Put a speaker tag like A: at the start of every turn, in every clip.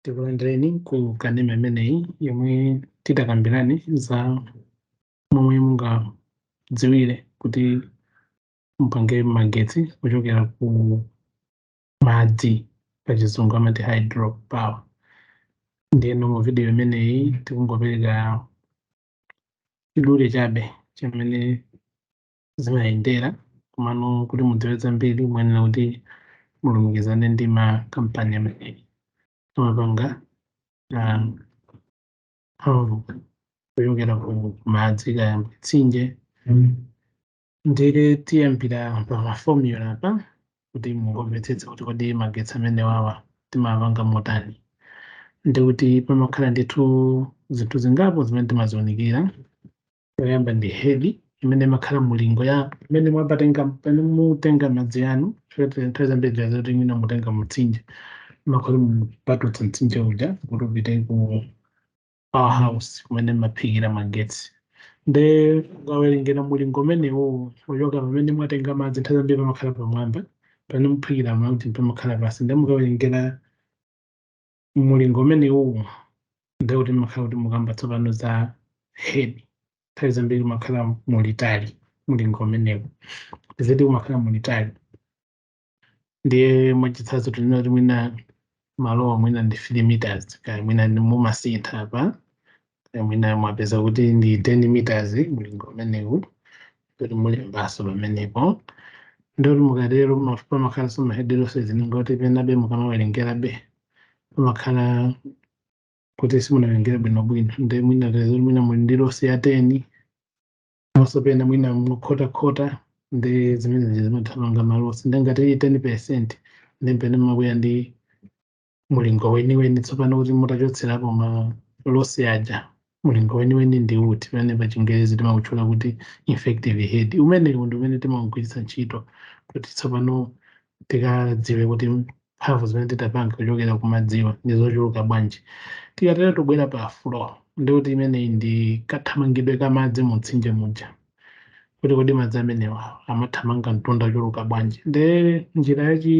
A: tikulandireni ku kanema imeneyi yomwe titakambirane za momwe mungadziwire kuti mupange magetsi kuchokera ku madzi pachizungu amati hydro power ndiyeno mu vidiyo imeneyi tikungopereka chidule chabe chimene zimayendera komano kuti mudziwe zambiri muyenera kuti mulumikizane ndi makampani amene amapanga ah, mphamvu kuchokera ku madzi kaya mtsinje ndiye tiyambira pa mafomula apa kuti mungomvetsetse kuti kodi magetsi amenewawa timapanga motani ndekuti pamakhala ndithu zinthu zingapo zimene timazionikira yoyamba ndi head imene imakhala mulingo ya imene mwapatenga pamene mutenga madzi anu nthawi zambiri ziya zoti mwina mutenga mutsinje mumakhala mupatutsa mtsinje uja kuti upite ku power house kumene mumaphikira magetsi nde mukawerengera mulingo umenewo kuchoka pamene mwatenga madzi nthawi zambiri pamakhala pamwamba pamene muphikira madzi pamakhala pansi nde mukawerengera mulingo umenewo ndiye kuti mmakhala kuti mukamba tsopano za head nthawi zambiri umakhala mulitali mulingo umenewu tiziti umakhala mulitali ndiye mwachitsanzo tinena kuti mwina malowa mwina ndi 3 meters kaya mwina ndi mumasintha apa mwina mwapeza kuti ndi 10 meters mlingo umenewu kuti mulembaso pamenepo ndekuti mukatero pama- pamakhalanso ma head loss zina kuti penabe mukamawerengerabe pamakhala kuti simunawerengere bwinobwino nde mwina tazoti mwina muli ndi losi ya 10 maso pena mwina mukhotakhota ndi zimene zimapanga malosi nde ngati iyi 10 percent ndi pene mabwera ndi mulingo weniweni tsopano kuti mutachotserapo ma losi aja mulingo weniweni ndi uti pamene pa chingerezi timautchula kuti effective head umenewu ndi umene timaugwiritsa ntchito kuti tsopano tikadziwe kuti mphamvu zimene titapange kuchokera ku madziwa ndi zochuluka bwanji tikatero tibwera pa flow ndekuti imeneyi ndi kathamangidwe ka madzi mu mtsinje muja kuti kodi madzi amenewa amathamanga mtunda ochuluka bwanji nde njira yachi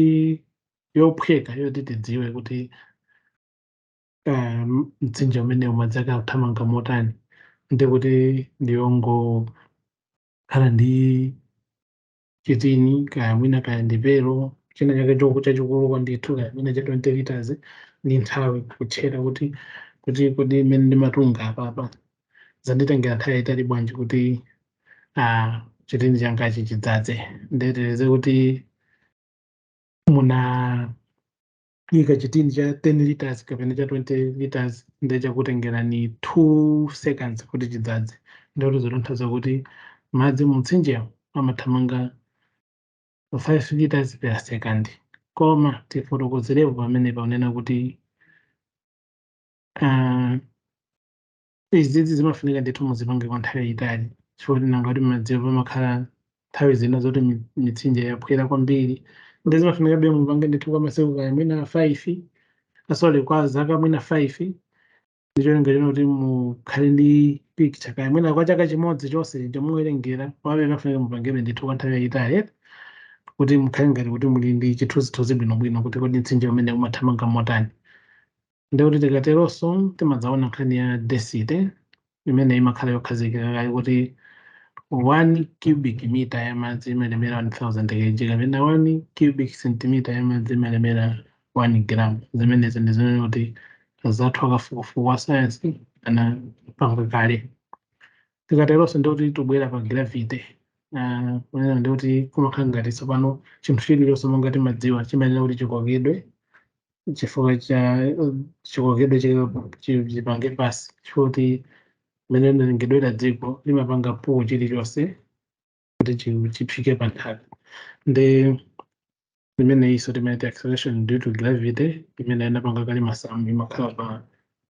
A: yophweka yoti tidziwe kuti eh, mtsinje umenewu madzi ake akuthamanga motani ndi kuti ndiyongokhala ndi chitini kaya mwina kaya ndi pelo china chake choku chachikuluko ndithu kaya mwina cha 20 liters ndi nthawi kutchera kuti kodi mmene ndimatunga apapa zanditengera nthawi yayitali bwanji kuti ah, chitini changachi chidzadze nde tiyerekeze kuti munaika chitini cha 10 liters kapena cha 20 liters nde chakutengerani 2 seconds kuti chidzadze ndikuti zotanthauza kuti madzi mumtsinjewo amathamanga 5 liters per second koma tifotokozerepo pamene ponena kuti uh, izizi zimafunika ndithu muzipange kwa nthawi yayitali chifukwa choti nanga kuti madziwo pamakhala nthawi zina zoti mi- mitsinje yaphwera kwambiri nde zimafunikabe mupange ndithu kwa masiku kaya mwina 5 ah sorry kwa zaka mwina 5 ndicholinga chino kuti mukhale ndi picture kaya mwina kwa chaka chimodzi chonse chomuwerengera komabe zimafunika mupangebe ndithu kwa nthawi yayitali eti kuti mukhale ngati kuti muli ndi chithunzithunzi bwinobwino kuti kodi mtsinje umene umathamanga motani ndikuti tikateronso timadzaona nkhani ya density imene imakhala yokhazikika kaye kuti 1 cubic meter ya madzi imalemera 1000 kg kapena 1 cubic centimeter ya madzi imalemera 1 gram zimenezi ndi zimene kuti anzathu akafukufuku wa sayansi anapanga kale tikateronso ndikuti tibwera pa gravity Ah, kunena ndikuti kumakhala ngati tsopano chinthu chilichonse monga timadziwa chimayenera kuti chikokedwe chifukwa cha chikokedwe chipange pansi chifukwa choti mmene linalengedwera dziko limapanga pull chilichonse kuti chi- chifike pa nthaka nde imene iso timaiti acceleration due to gravity imene anapanga kale masamu imakhala pa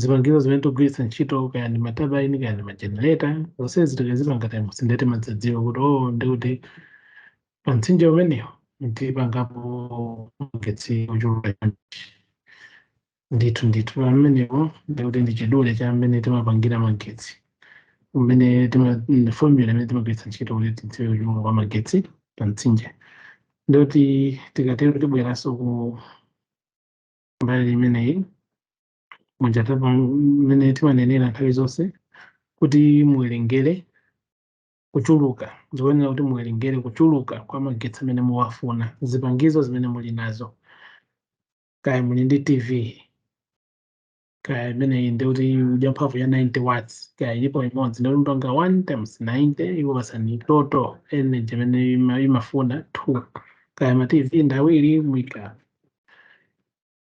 A: zipangizo zimene tikugwiritsa ntchito kaya ndi matabaini kaya ndi majenereta zonsezi tikazipanga times nde timadzadziwa kuti o ndi kuti pa mtsinje umenewu ndipangapo magetsi ochuluka chonchi ndithu ndithu pamenepo ndi kuti ndi chidule cha mmene timapangira magetsi umene tima- mm, formula imene timagwiritsa ntchito kuti tidziwe kuchuluka kwa magetsi pa mtsinje ndikuti tikatero tibweranso ku mbali imeneyi muja tapa mmene timanenera nthawi zonse kuti muwerengere kuchuluka zikuyenera kuti muwerengere kuchuluka kwa magetsi amene muwafuna zipangizo zimene muli nazo kaya muli ndi tv kaya imeneyi ndi kuti ndi ya mphamvu ya 90 watts kaya ilipo imodzi ndikuti mupanga 1 times 90 ikupatsani total energy imene ima- imafuna 2 kaya ma tv ndi awiri muika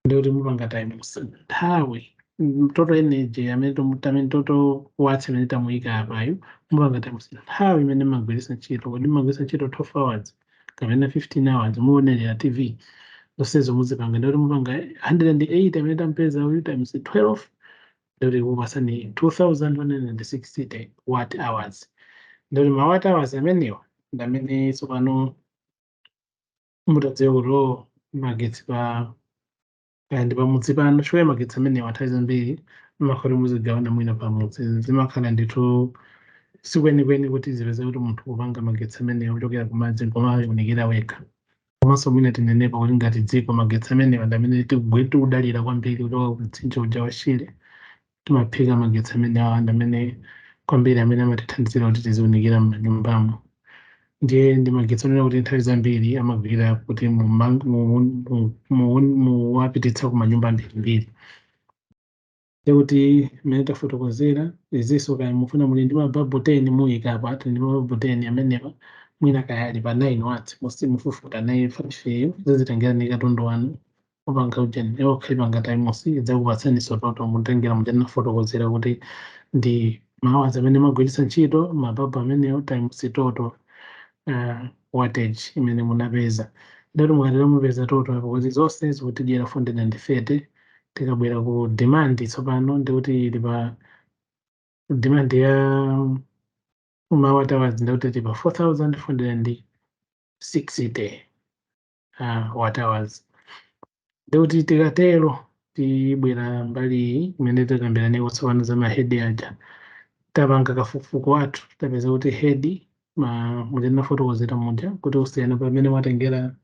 A: ndi kuti mupanga times nthawi mm, total energy amene tomu- tamene total watts imene tamuyika apayo mupanga times nthawi imene mmagwiritsa ntchito kodi mmagwiritsa ntchito 12 hours kapena 15 hours muonerera tv zonsezo muzipanga ndi kuti mupanga 180 amene tampeza uyu times 12 ndikuti kupasani 2160 watt hours ndikuti ma watt hours amenewa ndamene tsopano mutadziwa kuti o magetsi pa kaya ndi pamudzi pano chifukwa magetsi amenewa nthawi zambiri mmakhala kuti muzigawana mwina pamudzi zimakhala ndithu sikwenikweni kuti zipeze kuti munthu kupanga magetsi amenewa kuchokera kumadzi koma ayunikira wekha komanso mwina tinenepa kuti ngati dziko magetsi amenewa ndi amene tikugwe- tikudalira kwambiri kuchoka ku mtsinje uja wa shire timaphika magetsi amene awa ndi amene kwambiri amene amatithandizira kuti tiziunikira m'manyumbamo ndiye ndi magetsi onena kuti nthawi zambiri amagwira kuti mumang- mu- mu- mu- muwapititsa ku manyumba ambirimbiri ndekuti mmene tafotokozera izinso kaya mufuna muli ndi mababu 10 muyika apa ati ndi mababu 10 amenewa mwina kaya ali pa 9 watts musi mufufuta 9 yo 5 yo zizitengera ndi katundu wanu kupanga ujeni iwo khalipanga times idzakupatsaninso total mutengera muja nafotokozera kuti ndi ma hours amene mmagwiritsa ntchito mababu amenewo times total uh, wattage imene munapeza ndikuti mukatero mupeza total apo kuti zonse zikutidyera 430 tikabwera ku demand tsopano ndikuti ili pa demand ya ma watt hours ndikuti tili pa 4460 uh, watt hours ndikuti tikatero tibwera mbali iyi imene tikambiraneko tsopano za ma head aja tapanga kafukufuku wathu tapeza kuti head mma muja ndinafotokozera muja kuti kusiyana pamene mwatengera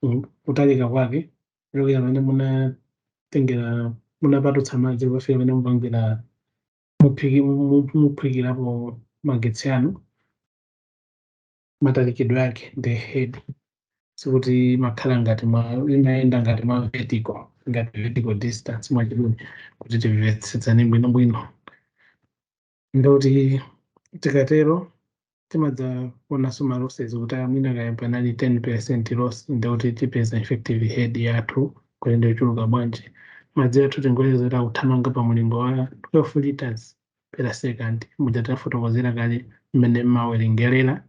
A: mm, kutalika kwake kuchokera pamene munatengera munapatutsa madzi kukafika pamene mupangira muphiki- mu- muphikirapo magetsi anu matalikidwe ake ndi head sikuti imakhala ngati ma imayenda ngati ma vertical ngati vertical distance mwachidule kuti timvetsetsane bwinobwino ndikuti tikatero timadzaonanso ma losses kuti mwina kaya panali 10 percent loss ndikuti tipeza effective head yathu kuti ndiochuluka bwanji madzi athu tingoyeza kuti akuthamanga pa mulingo wa 12 liters per second muja tafotokozera kale mmene mmawerengerera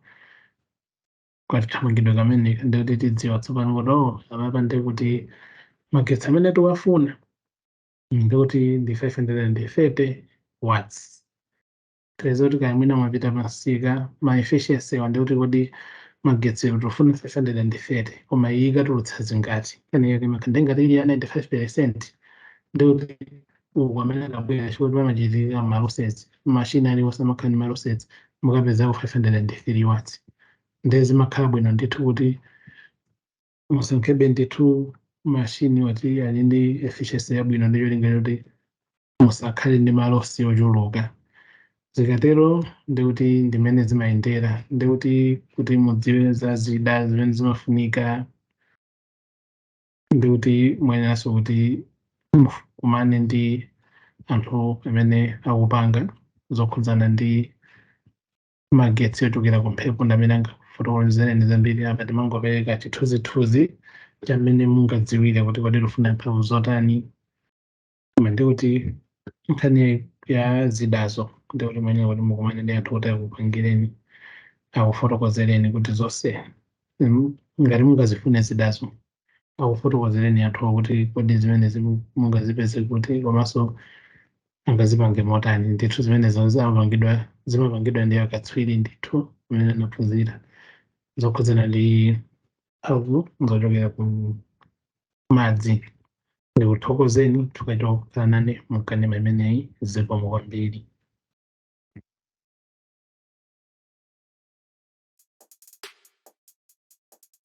A: kathamangidwe kameneka ndikuti tidziwa tsopano kuti oh apapa ndi kuti magetsi amene tiwafuna ndikuti ndi 530 watts tiweza kuti kaya mwina mwapita pansika ma efficiency ndikuti kodi magetsi tofuna 530 koma iyi ikatulutsa zingati kaniyake imakhala ngati ili ya 95 percent ndikuti uku amene anabwera chifukwa kuti pamachitika ma losses mashini aliwonse amakhala ndi ma losses mukapezako 503 watts ndiye zimakhala bwino ndithu kuti musankhebe ndithu mashini oti ali ndi efficiency yabwino ndi cholinga choti musakhale ndi malosi ochuluka zikatero ndikuti ndimene zimayendera ndikuti kuti mudziwe za zida zimene zimafunika ndi kuti muyeneranso kuti mukumane ndi anthu amene akupanga zokhudzana ndi magetsi ochokera ku mphepo ndi amene angafotokozereni zambiri apa timangopereka chithunzithunzi cha mmene mungadziwire kuti kodi tufuna mphamvu zotani koma ndi kuti nkhani ya zidazo ndi kuti muyenera kuti mukumane ndi anthu kuti akupangireni akufotokozereni kuti zonse mm, ngati mungazifune zidazo akufotokozereni anthu kuti kodi zimene zimu- mungazipeze kuti komanso angazipange motani ndithu zimenezo zimapangidwa ndi akatswiri ndithu amene anaphunzira zokhudzana ndi mphamvu zochokera ku madzi ndikuthokozeni chifukwa chokhala nane mkanema imeneyi zikomo kwambiri